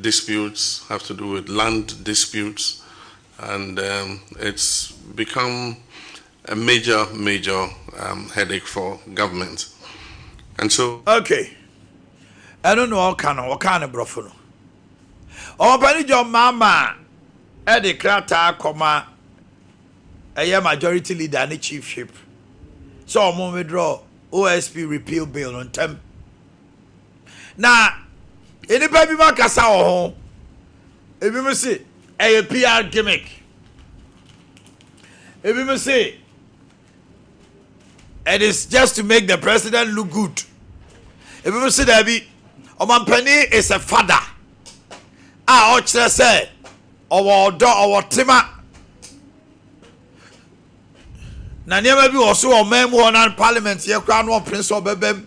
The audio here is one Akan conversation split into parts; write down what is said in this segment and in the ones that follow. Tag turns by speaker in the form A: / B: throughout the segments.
A: disputes have to do with land disputes and um it's become a major major um headache for government and so. Okay
B: ɛno na ɔka no ɔkaa no borɔfo no ɔpani John Mahama ɛde krataa kɔma ɛyɛ majority leader ne chief whip sɛ ɔmo withdraw OSP repeal bill no ntɛm. Na nnipa bi ma kasa wɔ ho. Ebinom se ɛyɛ PR gimmick. Ebinom se it is just to make the president look good. Ebinom se daabi, ɔmampanin is a father a ɔkyerɛ sɛ ɔwɔ ɔdɔ, ɔwɔ tema. Na nneɛma bi wɔ so wɔ ɔman mu hɔ na parliament yɛ koraa no ɔmpene sɛ ɔbɛbam.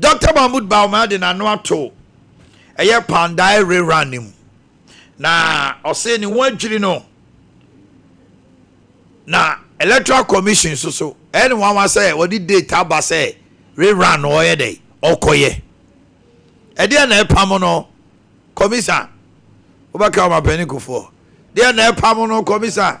B: Dɔkta Mahmoud Bawumia de n'ano ato ɛyɛ Pandai Rerun no mu na ɔse ne ho adwiri no na Electoral Commission nso so ɛyɛ ne nwanwa sɛ wɔde date aba sɛ rerun no ɔyɛ dɛ ɔkɔyɛ ɛdeɛ na ɛpam no kɔmisa wobɛka ɔmapanin kufoɔ deɛ na ɛpam no kɔmisa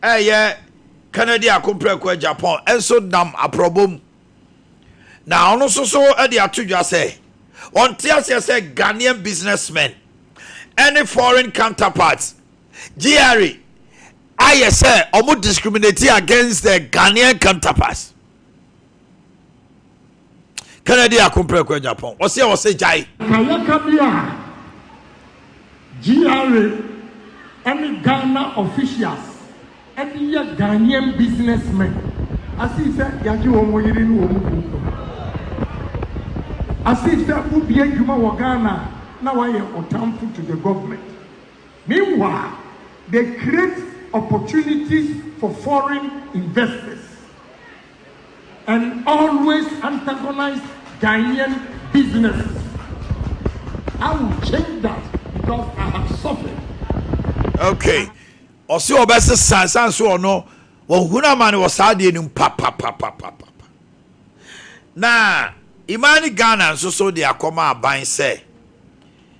B: a ɛyɛ Kennedy Ako Prekoa Agyapong nso nam aprɔbɔ mu na ɔno nso so de ato dwa sɛ ɔnte aseɛ sɛ Ghanaian businessmen ne foreign counterparts gyre ayɛ sɛ wɔn discriminate against their Ghanaian counterparts. Kennedy ako prɛko agya pɔn. Ɔse a ɔse gyae. Kayɛka bi a
C: GRA ne Ghana officials de yɛ Ghanaian business men asii sɛ yɛagye wɔn yere ne wɔn kunu no. Asii sɛ wodi adwuma wɔ Ghana a na wɔayɛ ɔtamfo to the government. Meanwhile, they create opportunities for foreign investors and always antagonise Ghanaian businesses, I will change that because I have suffered.
B: Okay. Ɔsi ɔbɛsesa san so ɔno ɔhunu amane wɔ saa adeɛ no mu papapapapapa. Na Imani Ghana nso so de akɔma aban sɛ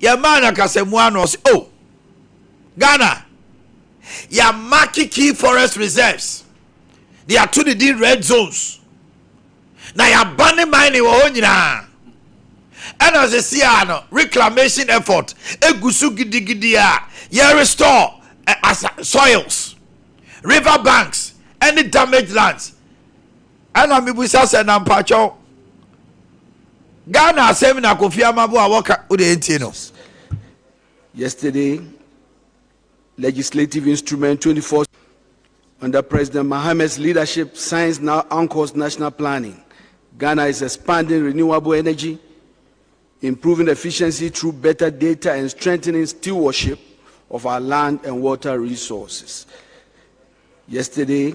B: Yɛn maa no akasamu a na ɔse oh Ghana yɛ amake key forest reserves de yɛato ne din red zones na yɛaba ne mining wɔ hɔ nyinaa ɛna sisi a no reclamation effort egu so gidigidi a yɛ restore eh, asa soils river banks ɛne damaged lands Ɛna mebisa sɛ na mpakyɛw Ghana asɛm na Kofi Amabo a wɔka wo deɛ ntie no. Yesterday,
D: legislative instrument 24 under President Mahame's leadership signs now anchors national planning. Ghana is expanding renewable energy, improving efficiency through better data and strengthening stewardship of our land and water resources. Yesterday,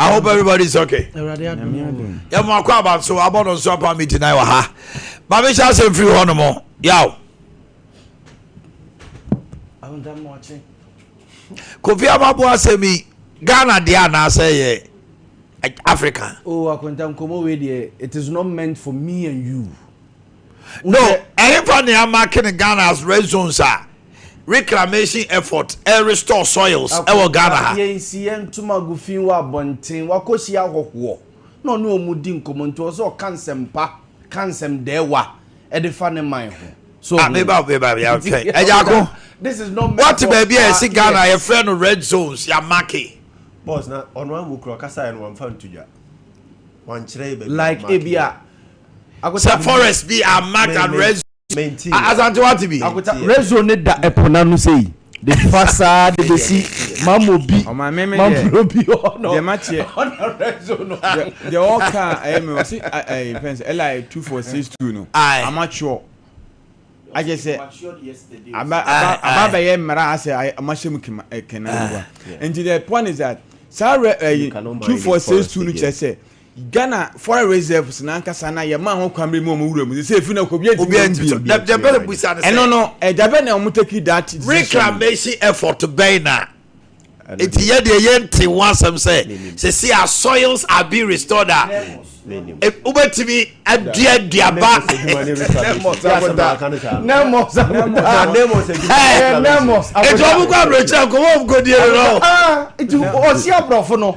B: I hope everybody is okay. Yẹ mu akọ abanso abọ no nso apa mi ti na wà ha. Maame hyɛ asɛm firi hɔ nom yaw. Kofi Amabo asɛm yi Ghana deɛ anaasɛ yɛ Africa. Oh, Akwanta
E: Nkomo wei deɛ it is not meant for me and you. No,
B: ɛhefa na yɛamake no Ghana as red zones a reclamation effort ɛrestore soils wɔ Ghana ha? Yɛn nsi yɛn ntoma
E: gu fi wɔ abɔnten, wakɔhyia ahɔhoɔ na ɔne wɔn di nkɔmmɔ nti ɔwɔ sɛ ɔka nsɛm pa, ka nsɛm dɛɛwa de fa ne man ho. So ah, meba meba ya
B: hwɛ ɛgyako wɔte
E: baabi a yɛsi
B: Ghana yɛfrɛ no red zones yɛamake. Boss na ɔno
F: angu kura ɔkasa yɛ no wɔmfa nto dwa
B: wɔnkyerɛ yɛ
F: baabi like
E: ebi a
B: Sɛ forest bi a
F: mark and
B: red zone.
F: Asante wate bi.
B: Red zone ne da
E: ɛpo n'ano sei de fa saa de besi mammo bi mammo bi hɔ no ɔna red
G: zone
E: no. Deɛ ɔka
G: ɛyɛ mi ɔsi ɛyɛ fɛn sɛ li two four six two no amateur akyɛ sɛ aba aba aba bɛyɛ mmara asɛ ɔmo ahyɛ mu kema kena nti the point is that saa rɛ ɛyi two four six two no kyɛ sɛ. Ghana foreign reserves no ankasa na yɛmaa ho kwan bere mu a wɔn wura mu sɛ efi na kɔbea ntumi obiara ntumi sɛ dabi dabi bɛ
B: busa ne sɛ ɛno no ɛda bɛ na wɔn
G: take that decision reclamation
B: effort bɛn na eti yɛ deɛ yɛ nte ho asɛm sɛ sisi a soils are being restored a wobɛtumi adua duaba ɛti ɔmo kɔ abrɛkyerɛ nkɔmɔ ɔmo kɔ die no
E: ɔsi abrɔfo no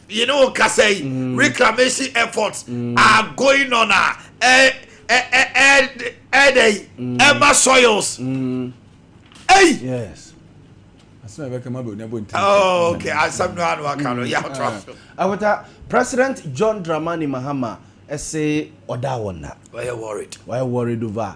B: Yi ne wo kasa yi mm. reclamation efforts mm. are going on a ɛdɛ yi ɛma soils. Hey. Yes.
E: asɛm ɛbɛka ma bɛ onyabo nti.
B: Oh, ok asɛm no ano aka no yà tó aso. awota
E: president john dramani mahama ɛsɛ ɔda wɔn na. wɔyɛ worried.
B: wɔyɛ worried over.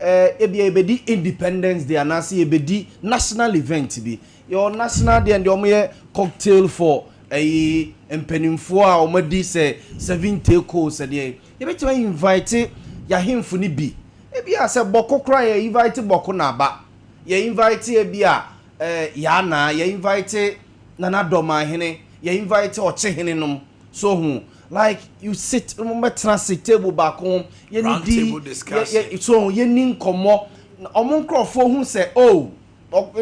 E: eh, ebia yɛbɛdi independence day anaasɛ yɛbɛdi national event bi. Yɛwɔ national deɛ deɛ wɔyɛ cocktail for ɛyi mpanimfoɔ a wɔadi sɛ seven take hole sɛdeɛ yɛbɛtumi invite yɛahemfo no bi ebia sɛ bɔko koraa yɛ invite bɔko na aba yɛ invite ebia eh, yɛanaa yɛ invite nana dɔmaahene yɛ invite ɔkyehene nom so ho Like you sit, wɔn bɛ tena ase table baako ho, yɛ ni di, yɛ so yɛ ni nkɔmɔ, na wɔn nkorɔfoɔ hu sɛ oh,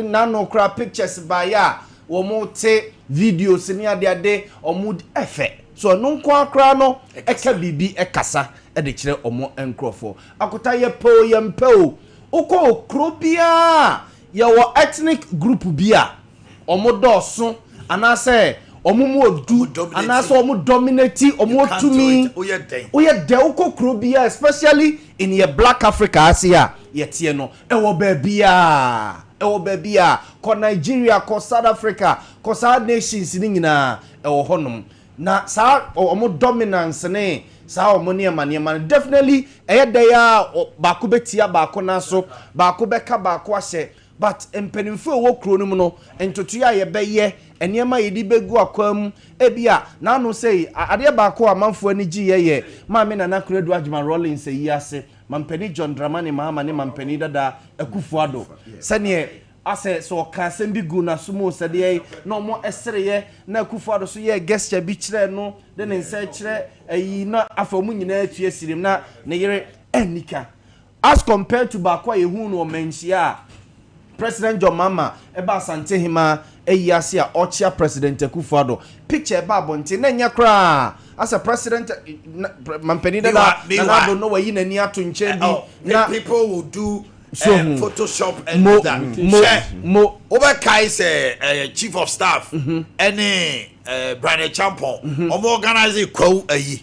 E: nano kora pictures baayɛ a, wɔn te videos ne ade ade, wɔn di ɛfɛ. So ɛno nko ara koraa no ɛka biribi ɛkasa ɛde kyerɛ wɔn nkorɔfoɔ. Akota yɛ pɛ o, yɛn pɛ o, wokɔ wɔ kuro biara a, yɛ wɔ ethnic group bi a, Wɔn dɔɔso anaasɛ wɔn mu odu anaasɛ wɔn dominate wɔn wɔ tumi woyɛ dɛ wokɔ kuro biara especially in yɛ black africa ase a yɛteɛ no ɛwɔ baabiara ɛwɔ baabiara kɔ nigeria kɔ south africa kɔ saa nations no nyinaa ɛwɔ hɔnom na saa wɔn dominance ne saa wɔn nneɛma nneɛma no definitely ɛyɛ dɛ a baako bɛtia baako nan so baako bɛka baako ahyɛ But mpaninfoɔ a ɛwɔ kuro no mu no ntotoeɛ a yɛbɛyɛ, nneɛma a yɛde bɛgu akwan mu, ebia n'ano sei, adeɛ baako a amanfoɔ ani gyeeɛ yɛ Maame Nana Konadu Agyemang Rawlings ayie ase, Mampanin John Dramani Mahama ne Mampanin Dada Akuffo Addo, sɛdeɛ asɛ sɛ ɔkaa asɛm bi guu n'aso mu sɛdeɛ na wɔn sereeɛ na Akuffo Addo nso yɛɛ gesture bi kyerɛɛ no de ne nsa rekyerɛ ayi na afei wɔn nyinaa tua sirem na ne yere anni ka. As compared to baako a yɛhuu no wɔ mmanhyia a President John Mahama ba Asantehema ayi ase a ɔrekyea President Akuffo Addo, picture a ɛbaa abɔnten na ɛnyɛ koraa a sɛ President Mampanin dada Nana Addo no wayi n'ani ato nkyɛn bi na People will
B: do um, photoshop and do that. Hwɛ, wobɛkae sɛ uh, Chief of Staff ɛne uh, Brane Champon wɔn organize Kwawu ayi.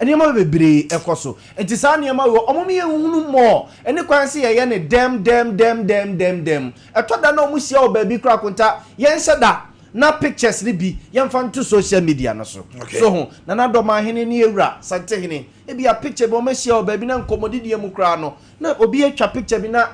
E: Nneɛma bebree kɔ so. Enti saa nneɛma wei, wɔn ne yɛn hunu mmɔ, ɛne kwan sɛ yɛyɛ no dɛm dɛm dɛm dɛm dɛm dɛm. Ɛtɔ da na wɔhyia wɔ baabi koraa akonta, yɛnhyɛ da na pictures no bi yɛmfa nto social media no so. So ho? Nana Dɔmanhene ne Awura Santehene, ebia picture bi wɔahyia wɔ baabi na nkɔmmɔdideɛ mu koraa no, na obi atwa picture bi na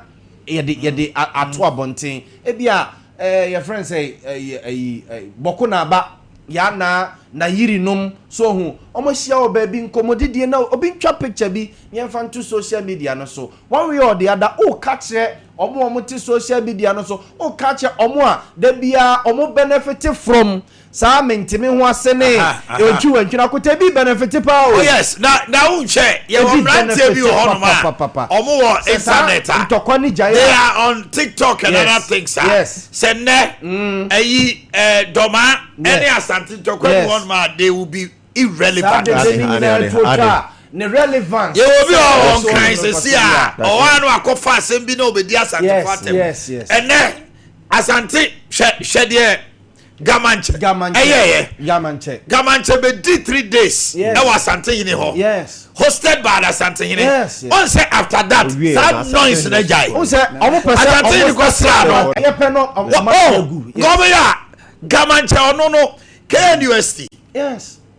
E: yɛde yɛde ato abɔnten. Ebia Eh, yɛfrɛ no sɛ eh, ayi eh, Bɔko Naba, Yana, Nayiri nom, so ohu, wɔahyia wɔ baabi, nkɔmmɔdidie na obi ntwa picture bi na yɛmfa nto social media no so. One way or the other, woka kyerɛ wɔn a wɔte social media no so, woka kyerɛ wɔn a da biara wɔn benefit from Saa mente me ho ase ne enti wantwi na kota ebi benefit paa o. Oh yes na na wo nhwɛ
B: yɛ wɔ mmeranteɛ bi wɔ hɔnom a wɔn wɔ internet a ntɔkwa ne gyae they
E: are on tiktok
B: and other things a sɛ nnɛ ɛyi dɔma ɛne asante ntɔkwa bi hɔnom a they will be irrelevant. Saa dede ne nyinaa ntu otwa
E: a ne relevance. Yɛ wɔ bi wɔ hɔ
B: nkran sɛsi a ɔwɔ ano akɔfa asɛm bi na obedi asantefo atɛm ɛnɛ asante hwɛ hwɛ deɛ. gamankyɛ ɛyɛyɛ gamankyɛ gamankyɛ bɛdi three days ɛwɔ asante hene hɔ hosted by asante hene ɔn sɛ after that saa noise na gyae
E: asante hene kɔ sra no gɔmeyɛ
B: a gamankyɛ ɔno no knust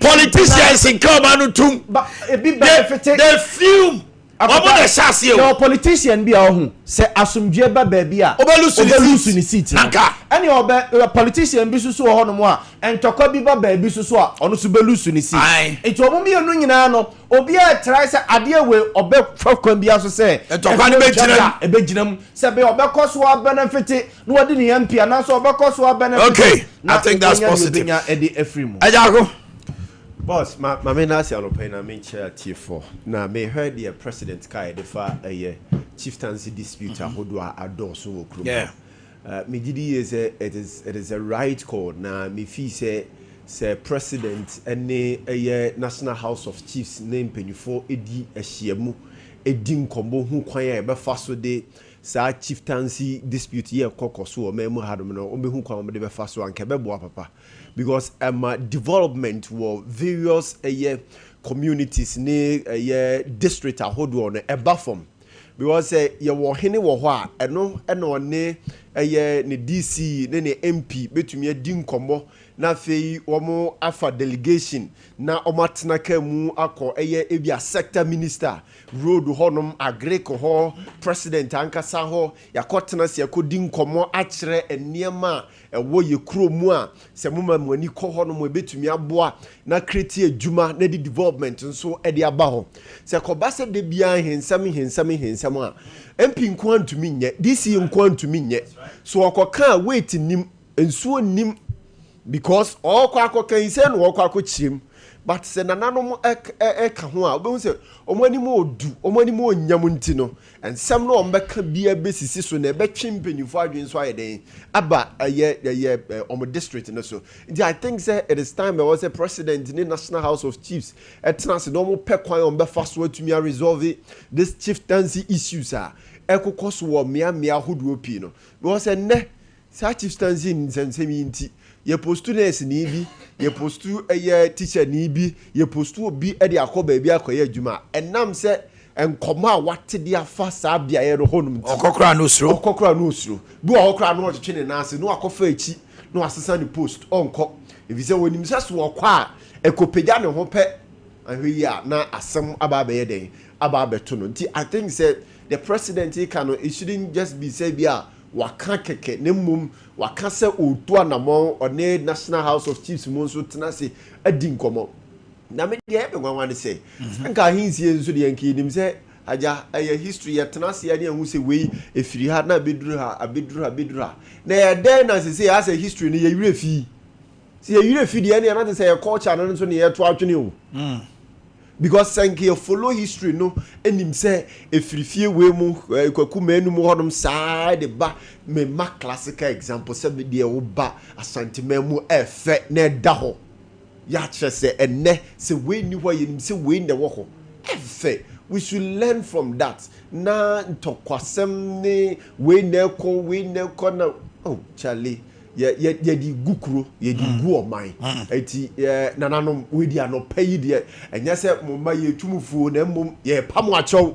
E: politicians nka
B: ɔma no tum
E: they fume
B: ɔmo na ɛhyɛ aseɛ o yɛwɔ politician bi
E: a ɔho sɛ asomdwoeɛ ba baabi a ɔbɛlusu ne seat no ɛne
B: ɔbɛ
E: politician bi soso wɔ hɔnom a ntɔkwa bi ba baabi soso a ɔno so bɛlusu ne seat nti ɔmo mmienu nyinaa no obiara ɛtrae sɛ adeɛ wei ɔbɛfa kwan bi aso sɛ ntɔkwa no bɛgyina mu
B: ɛbɛgyina mu
E: sɛ bɛ ɔbɛkɔ so abɛnɛfete na wadi ne yam pii anaasɛ ɔbɛkɔ so abɛnɛfo okay i think that's
B: positive nya ɛde afiri mu agyako
F: boss ma ma me na asi anɔpa yi na me nkyerɛ atiefo na mehwɛ deɛ president ka ɛde fa ɛyɛ chieftaincy dispute mm-hmm. ahodoɔ a adɔɔso wɔ kurom yeah. uh,
B: megye di
F: yie sɛ it is it is a right call na mefii sɛ sɛ president ne ɛyɛ national house of chiefs ne mpanyinfoɔ di ahyia mu di nkɔmmɔ hu kwan a yɛbɛfa so de Saa chieftaincy dispute yi a ɛkɔ kɔ so wɔ ɔman mu hanom no, wɔbɛhu kwan a wɔde bɛfa so a, anka ɛbɛboa papa. Because ɛma development wɔ various ɛyɛ communities ne ɛyɛ district ahodoɔ no, ɛba fam. Because sɛ yɛwɔ ɔhene wɔ hɔ a, ɛno na ɔne ɛyɛ ne DC ne ne MP bɛtumi adi nkɔmmɔ na afei wɔafa delegation na wɔatena kaa mu akɔ ɛyɛ ebia sector minister Road hɔnom, Agric hɔ, President ankasa hɔ, yɛakɔtena ase akɔdi nkɔmmɔ akyerɛ nneɛma a ɛwɔ yɛn kuro mu a sɛ moma mo ani kɔ hɔnom a ɛbɛtumi aboa na create adwuma na ɛde development nso de aba hɔ. Sɛ kɔba sɛ da biara nhensɛm nhensɛm nhensɛm a MP nko ara ntumi nyɛ, DC nko ara ntumi nyɛ. So ɔkɔka a weight nnim. Nsuo nnim because ɔɔkɔ akɔka yi sɛ na ɔɔkɔ akɔkyiam but sɛ nananom ɛka ho a wobɛhu sɛ wɔn anim ɔɔdu, wɔn anim ɔɔnyam nti no nsɛm no a wɔbɛka biara bɛsisi so na ɛbɛtwe mpaninfoɔ adwene nso ayɛ dɛn aba ɛyɛ ɛyɛ wɔn district no so. Nti I think sɛ it is time ɛwɔ sɛ President ne National House of Chiefs ɛtena ase na wɔn pɛ kwan a wɔbɛfa so atumi a resolve this chieftaincy issues a ɛkokɔ so wɔ mmea mmea ahodoɔ pii no because ɛnnɛ Saa Chief Stanzin nsɛmnsɛm yi nti, yɛpostu nɛɛseni bi, yɛpostu ɛyɛ tikyani bi, yɛpostu obi de akɔ baabi akɔyɛ adwuma a, ɛnam sɛ nkɔmmɔ a wate de afa saa beaeɛ no hɔnom nti. Ɔkɔ koraa na ɔsuro. Ɔkɔ koraa
B: na ɔsuro. Bi wɔ hɔ koraa na
F: ɔretwetwe ne nan ase na wakɔfa akyi na wasesa ne post, ɔrenkɔ. Ɛfiri sɛ ɔnim sɛ so ɔkɔ a, ɛkɔpagya ne ho pɛ, anhwɛ yie a na asɛm aba abɛyɛ dɛn? Aba abɛto no. Nti I think sɛ deɛ President reka no, it shouldn't just be sɛ ebia Waka kɛkɛ na mmom waka sɛ ɔretu anamɔn, ɔne National House of Chiefs mu nso tena ase adi nkɔmmɔ. Na me deɛ ɛyɛ me nwanwa ne sɛ, sɛ nka ahensie nso deɛ nka yɛnim sɛ agya ɛyɛ history, yɛtena ase a ne yɛahu sɛ wei ɛfiri ha na abɛduru ha, abɛduru ha, abɛduru ha. Na ɛyɛ dɛn na sesei asɛ history no yɛ werɛ fii? Sɛ yɛ werɛ fi deɛ ɛneɛ na te sɛ yɛ culture no nso ne yɛ to adwene o. Because sɛ nka yɛ follow history no nim sɛ ɛfiri fie wei mu eh, kwaku manu mu hɔnom saa de ba me ma classical example sɛ me deɛ wo ba asanteman mu ɛfɛ na ɛda hɔ yɛakyerɛ sɛ ɛnɛ sɛ wei nni hɔ a yɛnim sɛ wei na ɛwɔ hɔ ɛfɛ we should learn from that na ntɔkwasɛm ne wei na ɛkɔ wei na ɛkɔ na oh Charlie yɛde gu kuro yɛde mm. gu ɔman mm. nti nananom wɔdi anɔpa yi deɛ ɛnyɛ sɛ mo mma yɛtu mu fuo na mmom yɛpa mo akyɛw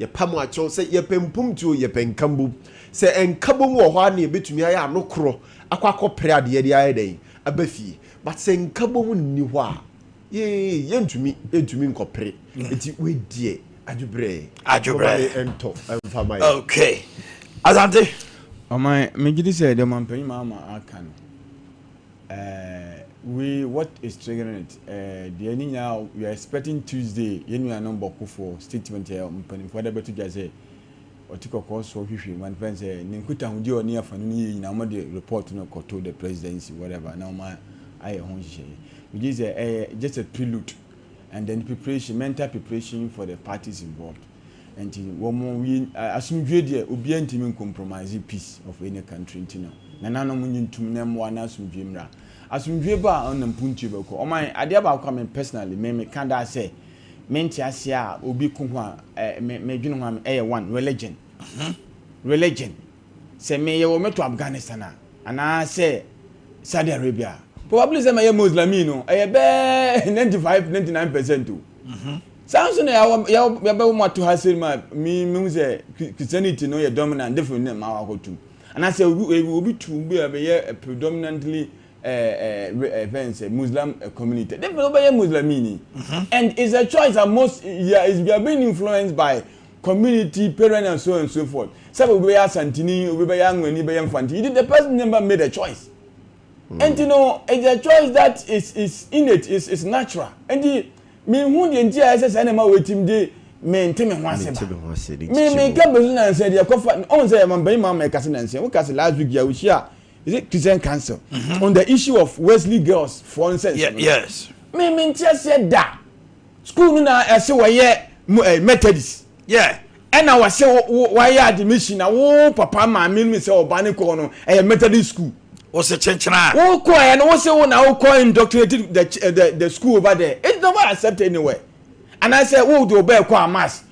F: yɛpa mo akyɛw sɛ yɛpɛ mpomtuo yɛpɛ nkambom sɛ nkabom wɔ hɔ a na yɛbɛtumi ayɛ ano korɔ akɔ akɔpere adeɛ de ayɛ dɛn aba fie but sɛ nkabom nni hɔ a Yee, yɛntumi, yɛntumi nkɔpere. Eti wei deɛ adwobrɛ. Adwobrɛ. Mama yɛ ntɔ mfa ma yɛ. Okay.
B: Asante. Ɔman,
G: megye di sɛ deɛ ɔmanpanyin Mahama aka no, ɛɛ wei what is triggering it, ɛɛ deɛ ne nyinaa we are expecting Tuesday yɛn nuanom bɔkofoɔ statement a mpanimfoɔ de abɛto dwa sɛ. Ɔte kɔkɔɔ soɔ hwehwɛ mu anfa sɛ ne nkutahodie a ɔne afa no no yie nyinaa wɔn de report no kɔto the presidency whatever na wɔn ayɛ ho nhyehyɛeɛ. Megye sɛ ɛyɛ just a prelude and then preparation mental preparation for the parties involved nti wɔn wie asomdwoeɛ deɛ obiara ntumi ncompromise peace of any country nti no nananom nye ntum na mmoa na asomdwoeɛ mmra asomdwoeɛ ba a ɔnam puntuo bɛkɔ ɔman adeɛ baako a me personally me meka daa sɛ me nte aseɛ a obi ko ho a eh me me dwene ho a me ɛyɛ one religion mhm religion sɛ me yɛ wɔ me to Afghanistan a anaa sɛ Saudi Arabia a probably sɛ mɛ yɛ Muslimii no ɛyɛ bɛɛ ninety five ninety nine percent o mhm saa nso na yɛ yɛ yɛ bɛ wɔ mo ato ha sɛ mu a me me hu sɛ Christianity no yɛ dominant different ne ma wɔ akɔtum anaa sɛ obi obi tu bi a bɛ yɛ predominantly eh eh re eh fɛn sɛ muslim eh community de fɛn wobɛyɛ muslimii ni and it's a choice that most yeah is we are being influenced by community parent and so and so forth sɛ obi bɛyɛ asantini obi bɛyɛ anwani bɛyɛ nfanti you did the person never made a choice nti no it's a choice that is is innate is is natural nti mi hu deɛ nti a ɛsɛ sɛ ɛna ma wɔtim de mi nti mi ho ase ba mi mi ka bɛsu nansa deɛ kɔfa ɔn sɛ ɛma bɛyi maa ma ɛkasa nansa wo kasa last week yɛ ahyia. is it christian council mm -hmm. on the issue of wesley girls for nonsense yeah, yes me
B: me nti aseɛ
G: da school no na ɛsɛ wɔyɛ eh, methodist yeah ɛna wɔsɛ wɔayɛ admission na wo papa maame no sɛ ɔba ne kɔɔ no ɛyɛ methodist school wɔsɛ kyenkyena
B: wokɔ ɛ no wosɛ
G: wo na wokɔ indoctrinated the, eh, the, the school over there it's never accepted anywhere anaasɛ wode wobɛɛkɔ amas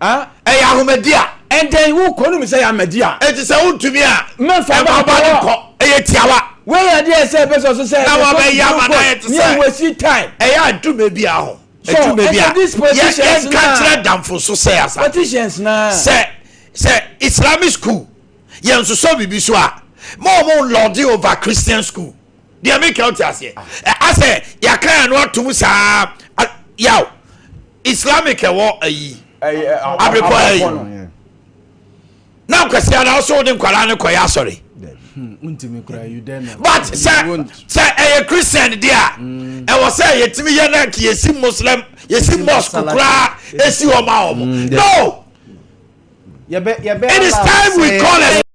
B: Ah? Ɛyɛ ahomadi a. Ɛndɛn,
G: wokɔ no mu sɛ yɛ amadi a. Enti sɛ wontumi a.
B: Mɛmfa ba nkɔ hɔ.
G: Nkɔ, ɛyɛ tiawa.
B: Wei yɛ adeɛ ɛsɛ
G: ɛbɛ sɔ so sɛ. Na wɔbɛyɛ ama na
B: ayɛ te sɛ. Yɛ wasi time. Ɛyɛ
G: adwuma bi a
B: ho. Adwuma bi a. Yɛ
G: yɛnka kyerɛ damfo
B: so sɛ asa. Politicians na. Sɛ
G: sɛ
B: Islamic school yɛn nsosɔ biribi so a ma wɔn lɔɔde over Christian school deɛ mi kɛ ɔte aseɛ asɛ yɛaka yɛn ano atum saa yaw. Islamic ɛwɔ ayi abirikɔ ha yi na nkwasi ana ɔsɛ ɔde nkwadaa no kɔyɛ asɔre
E: but sɛ
B: sɛ ɛyɛ christian di a ɛwɔ sɛ yɛtumi yɛ na nka yɛsi muslim yɛsi mosque koraa ɛsi hɔ ma wɔn no it is time we call it.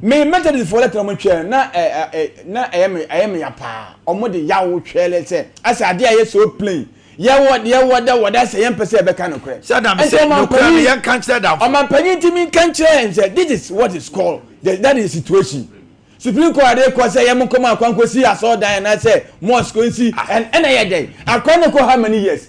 G: Me Methodist foɔ lɛtrɛ ɔmo twɛɛ na ɛ ɛ ɛ na ɛyɛ me ɛyɛ me ya paa ɔmo de yaw twɛɛ lɛ sɛ asɛ adeɛ a ɛyɛ so plain yɛ wɔ deɛ wɔ da wɔ da sɛ yɛn pɛ sɛ yɛbɛ ka nokorɛ Sɛ da me ɛnti sɛ ɔman nokorɛ no panyin
B: yɛn ka nkyerɛ damfo. ɔman
G: panyin nti me
B: nka
G: nkyerɛ yɛn sɛ this
B: is
G: what is called the that is the
B: situation
G: supreme court de kɔ sɛ yɛ mo nkɔ mo akwa nkɔ si asɔrɔ dan anaa sɛ mosque nsi ɛn ɛna yɛ dɛn akwa no kɔ how many years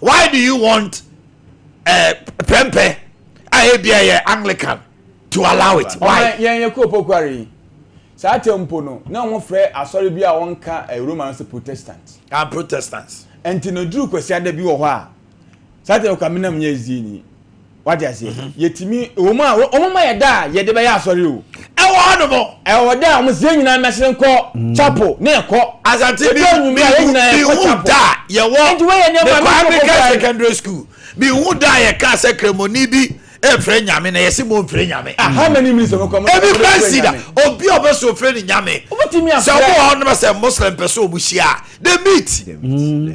B: Why do you want eh, prɛmpɛ a ebia yɛ Anglican to allow it? Why? Ɔman yɛn yɛ kuropɔ kware yi.
G: Saa tɛm mpo no, na wɔfrɛ asɔre bi a wɔnka eh, Roma no sɛ Protestant. Ah, Protestants.
B: Ɛnti no, duru
G: Kwasiada bi wɔ hɔ a, saa tɛm kɔ a menam nyɛ ɛzdii ni. wagye aseɛ mhm. yɛtumi wɔn a wɔn ma yɛ da a yɛde bɛyɛ asɔre o ɛwɔ hɔ nom
B: ɛwɔ da a wɔn sɛ
G: nyinaa mɛsere nkɔ mm. chapel ne ɛkɔ asante bi mi
B: hu da yɛwɔ mekwan mi
G: ka secondary
B: school mi hu da yɛ ka sɛ kremoni bi efirɛ nyame na yɛsi mo nfirɛ nyame
G: ebi pɛnsi da
B: obi a ɔbɛso ofirɛ ne nyame sɛ ɔmo wɔ hɔ nom sɛ muslim pɛ so ɔmo hyia de meet. Mm.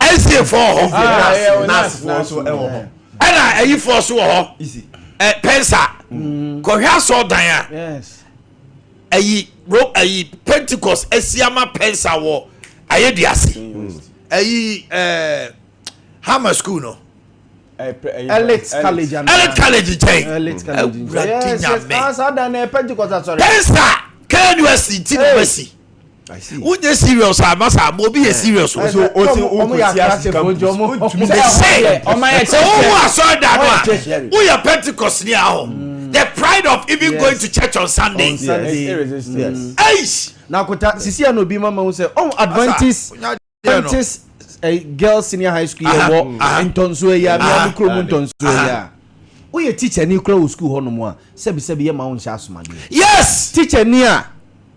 B: Asiafoɔ wɔ hɔ Naasifoɔ nso wɔ hɔ ɛna ayifoɔ nso wɔ hɔ pɛnsa mm. kɔhwɛ asɔ dan a
E: ayi
B: ro ayi pentikɔs asiama pɛnsa wɔ ayɛ di ase ayi ɛɛ hama sukuu no. elite college
E: and elite college nkyɛn awurade nyame pɛnsa
B: knus ti na bɛsi wonyɛ serious a na saa ma obi yɛ serious o. sɛ wowu asɔre da no a woyɛ pentecost ni a hɔ mm. the pride of even yes. going to church on sunday on sunday
E: yes. yes. yes. na kota sisi a na obi ma ma wo sɛ ɔn adventist Pantis eh, girls senior high school yɛ wɔ ntɔnsoɔ yi a mea me kurom ntɔnsoɔ yi a woyɛ teacher ni kora wɔ sukuu hɔ nom a sɛbisɛbi yɛ ma wo nhyɛ asomadeɛ yes teacher
B: ni a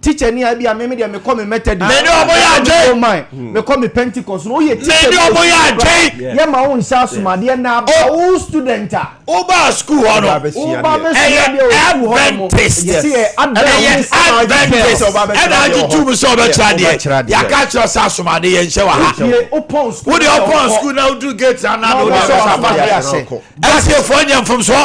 E: teacher ni a bi a meme deɛ mekɔ me mɛtɛ di mede ɔmo yɛ adwen
B: hmm. mekɔ
E: me pentecost no woyɛ teacher mede ɔmo yɛ adwen
B: yɛ ma wo nhyɛ
E: asomadeɛ na aba wo student a wobaa sukuu hɔ no
B: ɛyɛ adventist
E: ɛyɛ
B: adventist ɛna agye tum sɛ ɔbɛkyerɛ adeɛ yɛaka kyerɛ sɛ asomade yɛnhyɛ wɔ ha wode ɔpɔn
E: sukuu na
B: woduru gate ana na wode ɛbɛsa ba ɛtiefoɔ nyɛ mfomsoɔ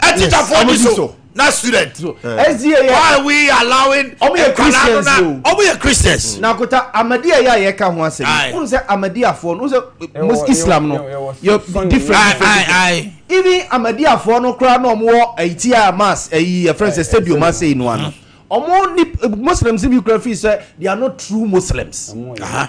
G: ɛtikyafoɔ no so
B: na student so ɛzie yɛ why we allowing ɔmo yɛ christians o ɔmo yɛ christians na kota amadiya
E: yɛ a yɛ ka ho asɛm n sɛ amadiyafoɔ no n sɛ mus islam no yɛ different even amadiyafoɔ no koraa na ɔmo wɔ ɛyi ti a mass ɛyi yɛ fɛn sɛ stadium ase yi no ano ɔmo ni muslims bi koraa fi sɛ they are not true muslims. Uh -huh.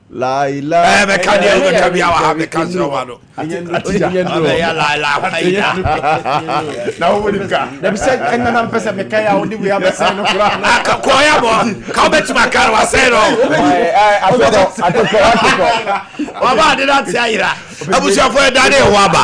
F: laila bɛka deɛ wobɛka
B: bia wɔ ha bɛka serɛ wa no abɛyɛ laila haida
F: na wowonim ka sɛ ɛnana mpɛ
E: sɛ meka yɛ a wode wei abɛsɛ no korakɔɔyɛ bɔ
B: ka wobɛtumi aka no wasɛe no ɔba ade no ate ayera abusuafoɔ
G: ɛda
B: ne ɛwɔ aba